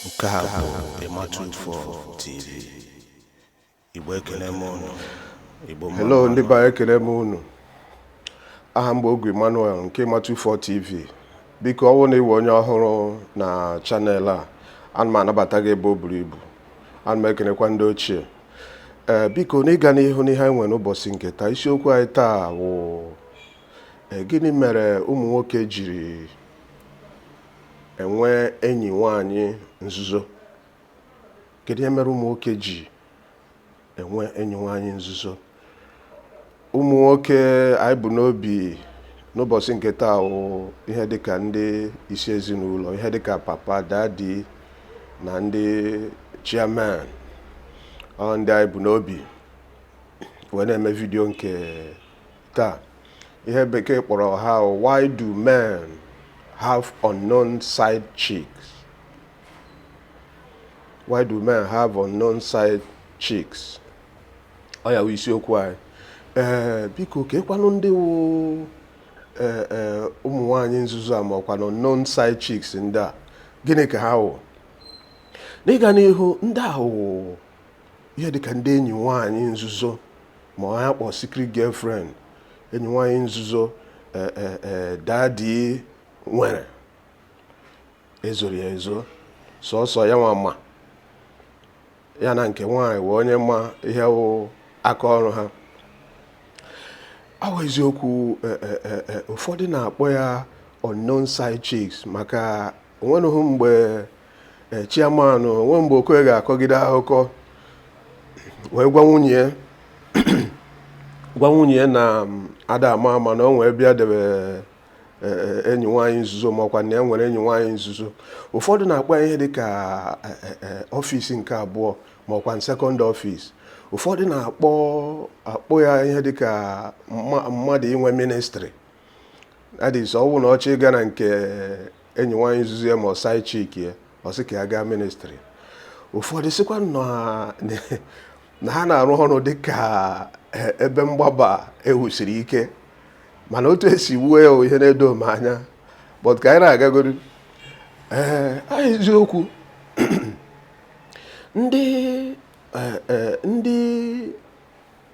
nke a bụ Ịmatụ Info TV Igbo ekele m unu Igbo mma Hello ndị be anyị ekele m unu aha m bụ Ogwu Emmanuel nke Ịmatụ Info TV biko ọ wụ na ị wụ onye ọhụrụ na channel a ana m anabata gị ebe o buru ibu ana m ekenekwa ndị ochie ee eh, biko n'ịga n'ihu n'ihe anyị nwere n'ụbọchị nke taa isiokwu anyị taa wụ eh, gịnị mere ụmụ nwoke jiri enwe enyi nwaanyị nzuzo kedu ihe mere ụmụ nwoke ji enwe enyi nwaanyị nzuzo ụmụ nwoke anyị bu n'obi n'ụbọchị nke taa wụ ihe dịka ndị isi ezinụlọ ihe dịka papa daddy na ndị chairman ọ ndị anyị bu n'obi wee na-eme vidio nke taa ihe Bekee kpọrọ ha why do men have unknown side chicks why do men have unknown side chicks ọ ya wụ isiokwu anyị ee biko keekwanụ ndị wụ ee ee ụmụ nwaanyị nzuzo a ma ọkwanụ unknown side chicks ndị a gịnị ka ha wụ n'ịga n'ihu ndị a wụ ihe dịka ndị enyi nwaanyị nzuzo ma ọ ya kpọọ secret girlfriend enyi nwaanyị nzuzo eh, eh, eh, daddy nwere e zoro ya ezo sọsọ ya nwa ma ya na nke nwaanyị wụ onye ma ihe wụ aka ọrụ ha ọ wụ eziokwu eh, eh, eh, eh, ụfọdụ na-akpọ ya unknown side chicks maka o nwenụghị mgbe e, chairman o nwe mgbe Okoye ga-akọgide akụkọ wee gwa nwunye gwa nwunye na mm, ada ama ama na o nwe ebe ya debe e, e, enyi nwaanyị nzuzo makwa na ya nwere enyi nwaanyị nzuzo ụfọdụ na-akpọ ya ihe dị ka office nke abụọ ma ọkwanụ second office ụfọdụ na-akpọ ya ihe dị ka mmadụ inwe ministry that is ọ wụ na ọ chọọ ịga na nke enyi nwaanyị nzuzo ya ma ọ side chick ya ọ sị ka ya gaa ministry ụfọdụ sịkwa na- na ha na-arụ ọrụ dị ka e- ebe mgbaba e wusiri ike mana otu e si wuo ya wụ ihe na-edo m anya but ka anyị na-agagodu ee a eziokwu ndị eh, eh, ndị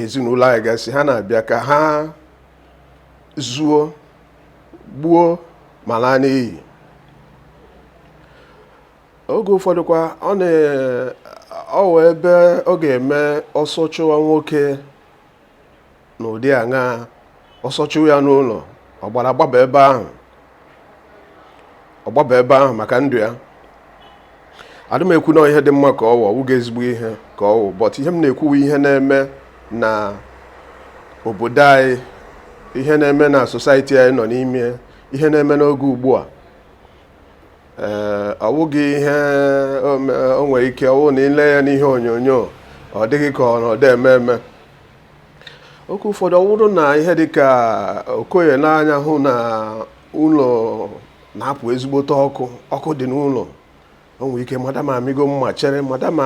ezinụlọ anyị gasị ha na-abịa ka ha zuo gbuo ma laa n'iyi oge ụfọdụkwa ọ na-awụ ebe ọ ga-eme ọsọ chụwa nwoke n'ụdị aṅa ọsọ chụwa ya n'ụlọ ọ gbara gbaba ebe ahụ ọ gbaba ebe ahụ maka ndụ ya adị m ekwu na ihe dị mma ka ọ wụ ọ wụghị ezigbo ihe ka ọ wụ but ihe m na-ekwu wụ ihe na-eme na obodo anyị ihe na-eme na society anyị nọ n'ime ihe na-eme n'oge ugbu a ee ọ wụghị ihe o me- o nwere ike ọ wụ na i lee ya n'ihe onyonyo ọ dị gị ka ọ na ọ da eme eme oge ụfọdụ ọ wụrụ na ihe dịka okoye nee anya hụ na ụlọ na-apụ ezigbote ọkụ ọkụ dị n'ụlọ o nwere ike madam amịgo mma chere madam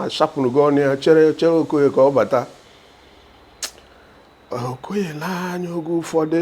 ashapụnụgo ọnụ ya chere chere okoye ka ọ bata okoye nee anya oge ụfọdụ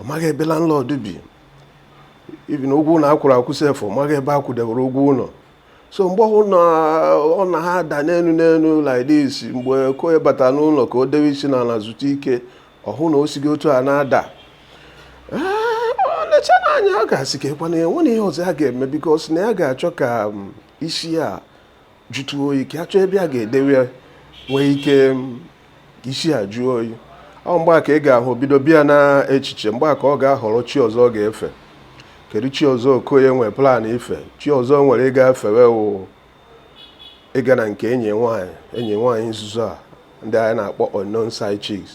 ọ maghị ebe landlord bi even ụgwọ ụlọ a kwụrụ akwụ sef ọ maghị ebe a kwụdewere ụgwọ ụlọ so mgbe ọ hụrụ na ọ na ha ada n'elu n'elu like this mgbe okoye bata n'ụlọ ka o dewe isi n'ala zutụ ike ọ hụ na o sighị otu a na-ada lecha na anya ọ ga-asị keekwa nwanne ihe ọzọ ya ga-eme because na ya ga-achọ ka um, isi ya jụtụ oyi ka a chọọ ebe a ga-edewe ya nwee ike isi a jụọ oyi ọ mgbe a ka ị ga-ahụ bido bịa na echiche mgbe a ka ọ ga-ahọrọ chi ọzọ ọ ga-efe kedu chi ọzọ okoye nwere plan ife chi ọzọ o nwere ịga efewe wụ ịga na nke enyi nwaanyị enyi nwaanyị nzuzo a ndị anyị na-akpọ unknown side chicks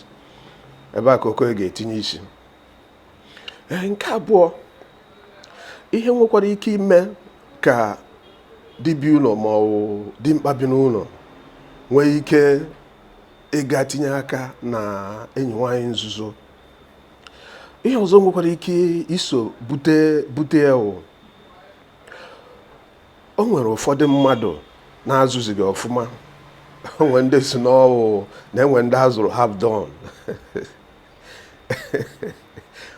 ebe a ka okoye ga-etinye isi nke abụọ ihe nwekwara ike ime ka dibiụlọ ma ọ bụ dimkpa bi n'ụlọ nwee ike ịga tinye aka na enyi nwaanyị nzuzo ihe ọzọ nwekwara ike iso bute bute ya o nwere ụfọdụ mmadụ na a zụzighị ọfụma o nwere ndị sị na ọ wụ na e nwere ndị a zụrụ half done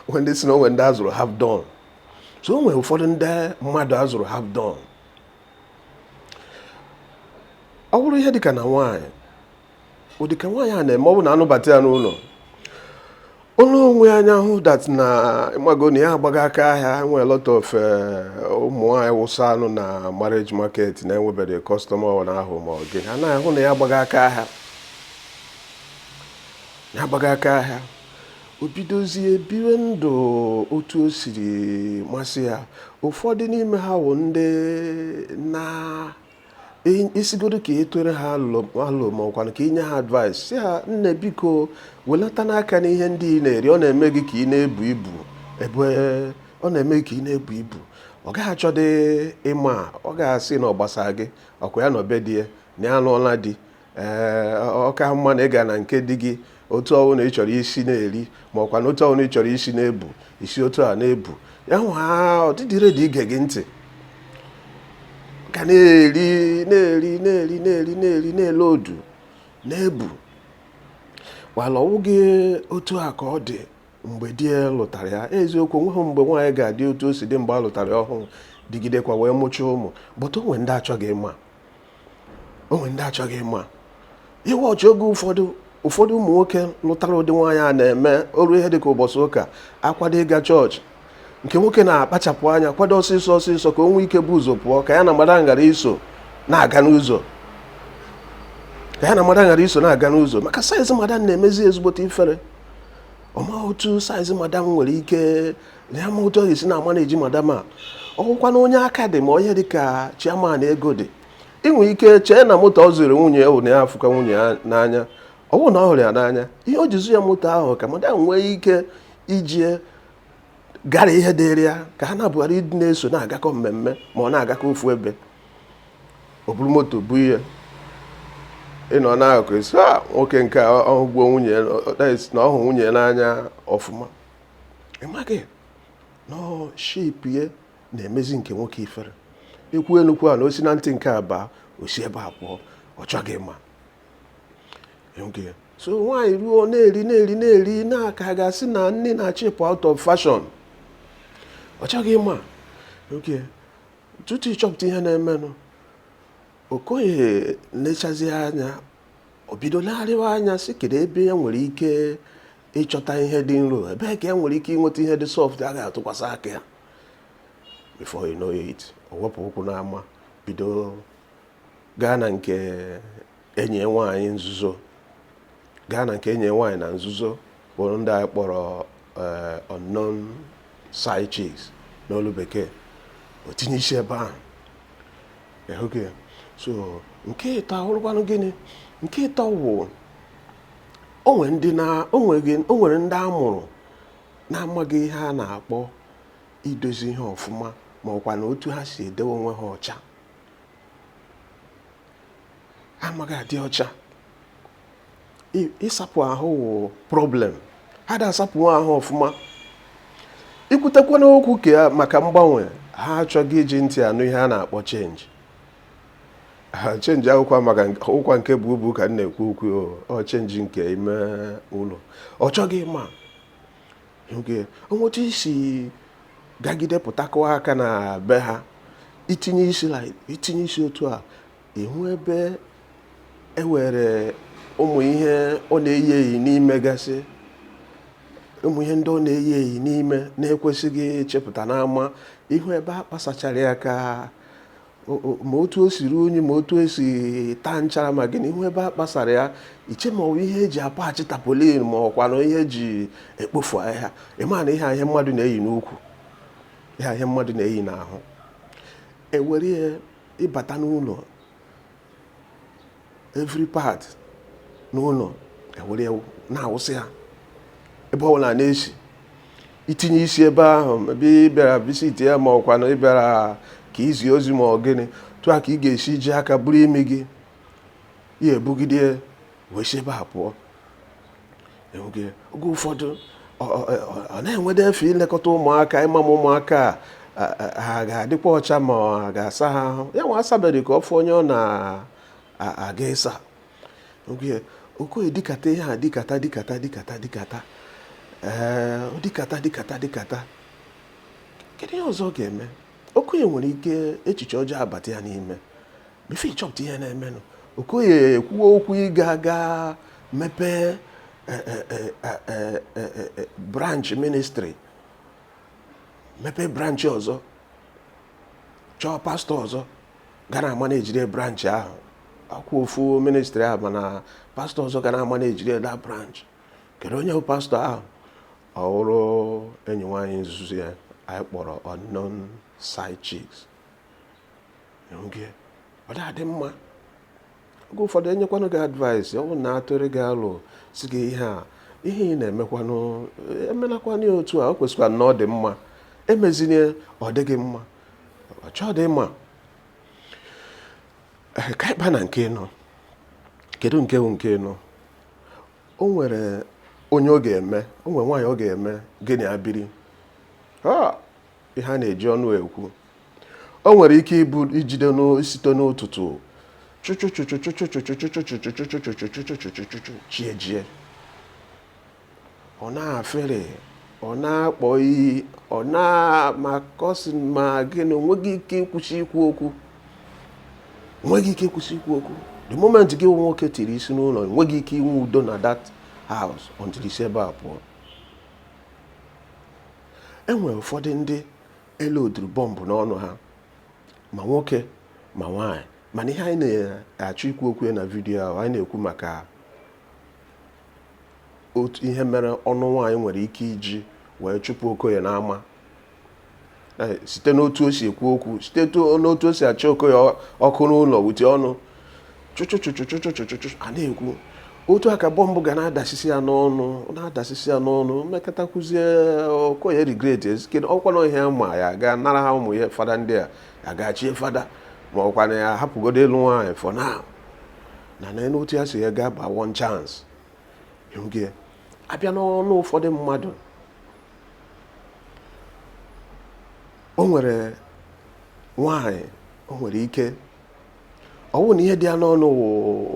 o nwe ndị sị na o nwe ndị a zụrụ half done so o nwe ụfọdụ ndị mmadụ a zụrụ half done ọ bụrụ ihe dịka na nwaanyị ọ dịka nwaanyị a na-eme ọ bụ na a nụbata ya n'ụlọ ụlọ o nee anya hụ that na ị mago na ya agbaghị aka ahịa nwee a lot of eh, ụmụ nwaanyị wụsanụ na marriage market na-enwebeghị customer ọ na-ahụ ma ọ gị anaghị hụ na ya agbaghị aka ahịa Ya agbaghị aka ahịa, o bidozie biwe ndụ otu o siri masị ya. Ụfọdụ n'ime ha wụ ndị na ị sịgodu ka ị tụọrọ ha alo ma ọ kwanụ ka i nye ha advice sị ha nne biko welatanụ aka n'ihe ndị ị na-eri ọ na-eme gị ka ị na-ebu ibu ebe ọ na-eme ka ị na-ebu ibu ọ gaghị achọdị ịma ọ ga-asị na ọ gbasara gị ọ kwa ya nọ be di ya na ya anụọla di ee ọ ka mma na ị ga na nke di gị otu ọwụ na ị chọrọ isi na-eri ma ọkwa na otu ọwụ na ị chọrọ isi na-ebu isi otu a na-ebu ya hụ ha adịghị ready ige gị ntị ka na-eri na-ele odu na-ebu wala ọwụghị otu a ka ọ dị mgbe di ya lụtara ya eziokwu onweghị mgbe nwaanyị ga-adị otu o si dị mgbe a lụtara ya ọhụrụ dịgidekwa wee mụchaa ụmụ but o nwere ndị achọghị ịma o nwere ndị achọghị ịma iwe ọchị oge ụfọdụ ụfọdụ ụmụ nwoke lụtara ụdị nwaanyị a na-eme o ruo ihe dịka ụbọchị ụka akwado ịga church nke nwoke na-akpachapụ anya kwado ọsịsọ ọsịsọ ka o nwee ike bụ ụzọ pụọ ka ya na madam ghara iso na-aga n'ụzọ maka size madam na-emezi ezigbote ifere ọ ma otu size madam nwere ike na ya amaghị otu ọ ga-esi na-amanage madam a ọ wụrụkwa na onye aka dị mma onye dị ka chairman ego dị i nwee ike chee na moto ọ zụrụ nwunye ya na ya afụka nwunye ya n'anya ọ bụghị na ọ hụrụ ya n'anya ihe o ji zụ ya moto ahụ ka madam nwee ike iji ya gara ihe dịrị ya ka ha na-abụọ ghara ịdị na-eso na-agakọ mmemme ma ọ na-agakọ ofu ebe o buru moto pụọ ị nọ n'akụkụ ị sị "Ah, nwoke nke a ọhụgbuo nwunye ya na ọhụ nwunye ya n'anya ọfụma ị maghị na shape ya na-emezi nke nwoke ifere i kwuo n'okwu a na o si na ntị nke a baa o si ebe a pụọ ọ chọghị ịma so nwaanyị ruo na-eri eri ka a ga-asị na nni na-achọ ịpụ out of fashion ọ chọghị ịma okay tutu ị chọpụta ihe na-emenụ okoye nechazi anya o bido legharịwa anya sị kedu ebe ya nwere ike ịchọta ihe dị nro ebee ka ya nwere ike ịnweta ihe dị soft a ga-atụkwasị aka ya before you know it o wepụ ụkwụ n'ama bido gaa na nke enyi nwaanyị nzuzo gaa na nke enyi nwaanyị na nzuzo bụ ndị anyị kpọrọ eh, unknown side chicks n'olu bekee o tinye isi ebe ahụ so nke ịtọ awụrụkwanụ gịnị nke ịtọ wụ o nwere ndị na o nweghị o nwere ndị a mụrụ na-amaghị ihe a na-akpọ idozi ihe ọfụma ma ọkwa na otu ha si edewe onwe ha ọcha ha amaghị adị ọcha I- ịsapụ ahụ wụ problem ha da asapụ ahụ ọfụma i kwutekwa n'okwu ka ya maka mgbanwe ha achọghị iji ntị anụ ihe a na-akpọ change ha change akwụkwọ maka ụkwa nke bụ ubu ka m na-ekwu okwu ọ change nke ime ụlọ ọ chọghị ịma onwetu isi gagide pụtakwa aka na be ha itinye isi itinye isi otu a ị hụ ebe ewere ụmụ ihe ọ na-eyi eyi n'ime gasị ụmụ ihe ndị ọ na-eyi eyi n'ime na-ekwesịghị chepụta n'ama ị hụ ebe a kpasachara ya ka ma otu o si ruo unyi ma otu o si taa nchara ma gịnị ị hụ ebe a kpasara ya i chee ma ọ bụ ihe eji akpachi tarpaulin ma ọ kwanụ ihe eji ekpofu ahịhịa ịma na ihe a ihe mmadụ na-eyi n'ukwu ihe a ihe mmadụ na-eyi n'ahụ ewere ya ịbata n'ụlọ every part n'ụlọ ewere na-awụsị ya ebe ọbụla na-esi itinye isi ebe ahụ ebe ị bịara visit ya ma ọ kwanụ ị bịara ka izi ozi ma ọ gịnị otu a ka ị ga-esi ji aka buru imi gị ya ebugide ya wee si ebe a pụọ oge ụfọdụ ọ na-enwede efe ilekọta ụmụaka ịma ma ụmụaka ha ga-adịkwa ọcha ma ọ ga-asa ha ahụ ya nwa asabeghị ka ọ fọ onye ọ na-aga ịsa oge okoye dikata ihe a dikata dikata dikata dikata ee eh, dikata dikata dikata kedu ihe ọzọ ọ ga-eme okoye nwere ike echiche ọjọọ abata ya n'ime before ị chọpụta ihe na-emenụ okoye ekwuwe okwu ịga aga mepee eh, eh, eh, branch ministry mepee branch ọzọ chọọ pastor ọzọ ga na-amanageri branch ahụ ọ ka bụ ofu ministry ahụ mana pastor ọzọ ga na-amanageri that branch kedu onye bụ pastor ahụ ọ bụrụ enyi nwaanyị nzuzo ya anyị kpọrọ unknown side chicks ọ dị mma oge ụfọdụ enyekwanụ gị advice ọ bụ na atụrụ gị alo sị gị ihe a ihe ị na-emekwanụ emelakwanụ ya otu a o kwesịkwa na ọ dị mma emezinye ọ dịghị mma ọ chọọ dị mma ka ịba na nke ịnọ kedu nke bụ nke ịnọ o nwere onye ọ ga-eme o nwere nwaanyị ọ ga-eme gịnị abiri ihe a na-eji ọnụ ekwu o nwere ike ijide site n'ụtụtụ chi ejie ọ na-afere ọ na-akpọ iyi ọ na-amakọsi ma gịnị o nweghị ike ịkwụsị ikwu okwu nweghị ike ịkwụsị ikwu okwu the moment gị nwoke tiri isi n'ụlọ nweghị ike inwe udo na that house until i si ebe a pụọ e nwere ụfọdụ ndị e loduru bọmbụ n'ọnụ ha ma nwoke ma nwaanyị mana ihe anyị na-achọ ikwu okwu ya na vidiyo a anyị na-ekwu maka otu ihe mere ọnụ nwaanyị nwere ike iji wee chụpụ okoye n'ama site n'otu o si ekwu okwu site n'otu o si achọ okoye okwu n'ụlọ with ọnụ chụchụchụchụchụchụchụchụ a na-ekwu otu aka bọmbụ ga na-adasisi ya n'ọnụ na-adasisi ya n'ọnụ mmekọta kụzie okoye regret ezikedo ọkwa na ihe ma ya ga nara ha ụmụ ya fada ndị a ya ga-achie fada ma ọkwa na ya hapụgodo ịlụ nwaanyị for now na n'otu ya si ya gaa ba one chance ịhụgị ya abịa n'ọnụ ụfọdụ mmadụ o nwere nwaanyị o nwere ike ọ bụrụ na ihe dị ya n'ọnụ wụ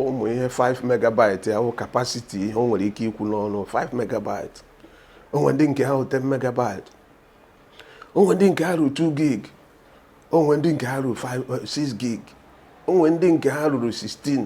ụmụ ihe 5 megabyte ya wụ capacity ihe o nwere ike ikwu n'ọnụ 5 megabyte o nwe ndị nke ha wụ 10 megabyte o nwe ndị nke ha ruru 2 gig o nwe ndị nke ha ruru 6 gig o nwe ndị nke ha ruru 16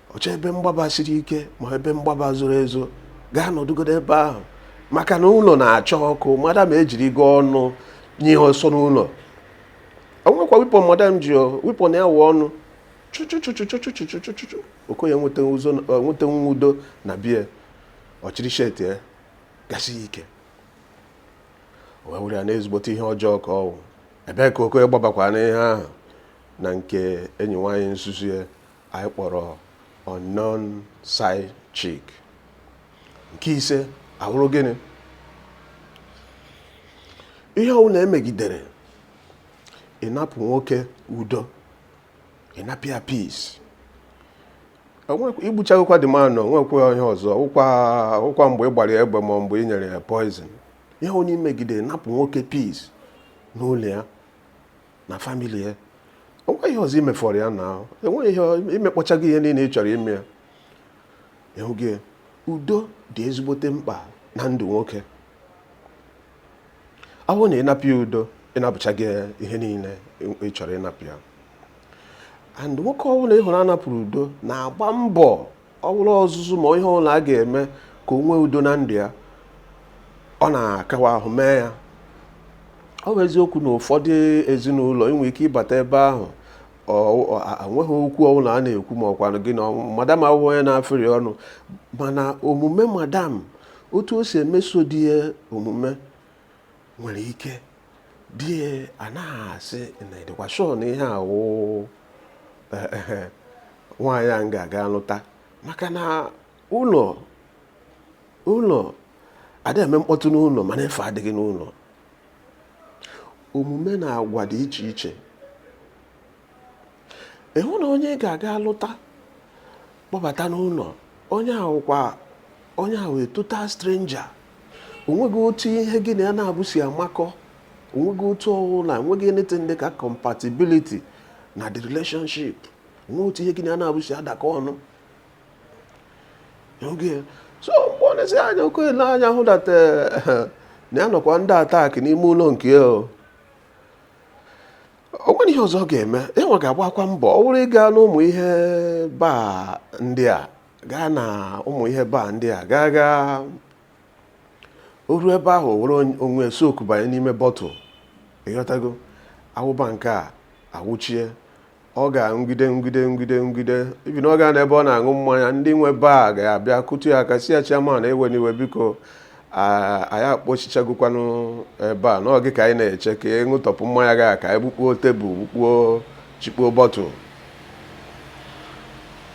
ọ chọọ ebe mgbaba siri ike ma ebe mgbaba zoro ezo gaa nọdụgodo ebe ahụ maka na ụlọ na-acha ọkụ madam ejirigo ọnụ nye ọsọ n'ụlọ o nwekwa weapon madam ji weapon ya wụ ọnụ chuchuchuchuchuchuchuchuchu okoye enwetahụ udo na be ya ọ chịrị shirt ya gasi ike wee were ya na ezigbote ihe ọjọọ ka ọ wụ ebee ka okoye gbabakwa n'ihe ahụ na nke enyi nwaanyị nzuzo ya anyị kpọrọ unknown side chick nke ise a wụrụ gịnị ihe ọbụla i megidere ị napụ nwoke udo ị napụ ya peace i gbuchagokwa the man o nwekwe ihe ọzọ ọ wụkwa mgbe ị gbara egbe ma mgbe ị nyere ya poison ihe ọbụla i megidere napụ nwoke peace n'ụlọ ya na family ya o nwe ihe ọzọ i mefọrọ ya n'ahụ enweghị ihe i mekpọchago ihe niile ị chọrọ ime ya ị hụgo udo dị ezigbote mkpa na ndụ nwoke ọ bụrụ na ị napụ ya udo ị napụchago ihe niile ị chọrọ ịnapụ ya and nwoke ọbụla ị hụrụ a napụrụ udo na-agba mbọ ọ bụrụ ọzụzụ ma ihe ọbụla a ga-eme ka o nwee udo na ndụ ya ọ na-akawa ahụ mee ya ọ bụ eziokwu na ụfọdụ ezinụlọ i nwe ike ịbata ebe ahụ enweghị okwu ọbụla a na-ekwu ma ọkwanụ gị na madam awụhụ onye na-afịrị ọnụ mana omume madam otu o si emeso di ya omume nwere ike di anaghị asị na ịdịkwa sure na ihe a wụ eh, eh, eh, nwaanyị a m ga-aga lụta maka na ụlọ ụlọ adịghị eme mkpọtụ n'ụlọ mana efe adịghị n'ụlọ omume na agwa dị iche iche ịhụ na onye ị ga-aga lụta kpọbata n'ụlọ onye ahụ kwa onye ahụ a total stranger onweghị otu ihe gị na ya n'abụọ si amakọ onweghị otu ọwụla enweghị anything dị ka compatibility na the relationship onweghị otu ihe gị na ya n'abụọ si adakọ ọnụ so mgbe ọ na-esi anya oke ele anya hụ that eh, na ya nọkwa under attack n'ime ụlọ nke ya o nwere ihe ọzọ ọ ga-eme ya nwa ga-agbakwa mbọ ọ bụrụ ịga n'ụmụ ihe bar ndị a gaa na ụmụ ihe bar ndị a gaa gaa o ruo ebe ahụ o were onye- onwe soku banye n'ime bottle ịghọtago aṅụba nke a aṅụchie ọ ga-aṅụgide ṅụgide ṅụgide ṅụgide even ọ gaa n'ebe ọ na-aṅụ mmanya ndị nwe bar ga-abịa kụtụ ya aka sị ya chairman ewena iwe biko anyị akpọchichagokwanụ ebe a na ọ gị ka anyị na-eche ka ị ṅụtọpụ mmanya gị a ka anyị bukpuo table bukpuo chikpuo bottle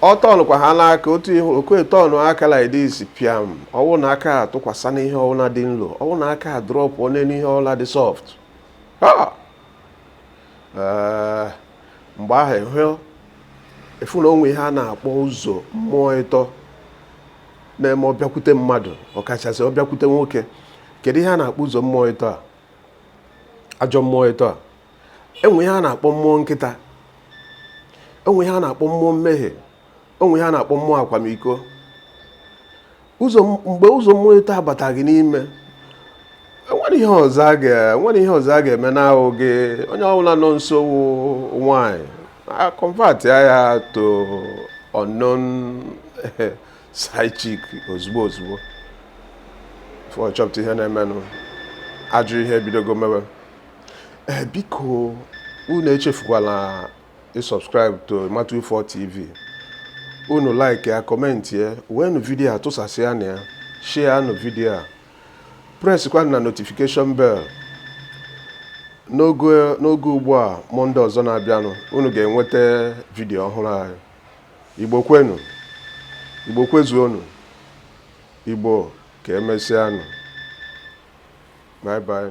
ọ tọnụkwa ha n'aka otu ihe okoye tọnụ aka like this piam ọwụ na aka atụkwasa na ihe ọwụla dị nlo ọwụ na aka a drop onye n'ihe ọwụla dị soft mgbe ahụ ịfụ na o nwe ihe a na-akpọ ụzọ mmụọ ịtọ na-eme ọ bịakwute mmadụ ọkachasị ọ bịakwute nwoke kedu ihe a na-akpọ ụzọ mmụọ ịtọ a ajọ mmụọ ịtọ a enwe ihe a na-akpọ mmụọ nkịta enwe ihe a na-akpọ mmụọ mmehie enwe ihe a na-akpọ mmụọ akwamiko ụzọ mgbe ụzọ mmụọ ịtọ a bata gị n'ime enwere ihe ọzọ a ga-eme n'ahụ gị onye ọbụla nọ nso wụ nwanyị ị convert ya to unknown side chick ozugbo ozugbo before chọpụta ihe na-emenụ ajọ ihe ebidogo mewe ee eh, biko unu echefukwala ị subscribe to Matu Four TV unu like ya comment ya weenụ vidiyo a tụsasịanụ ya share nụ vidiyo a presskwa na notification bell n'oge n'oge ugbu a Monday ọzọ na-abịanụ unu ga-enweta vidiyo ọhụrụ anyị igbo kwenu igbo kwezuonu igbo ka emesịanụ bye bye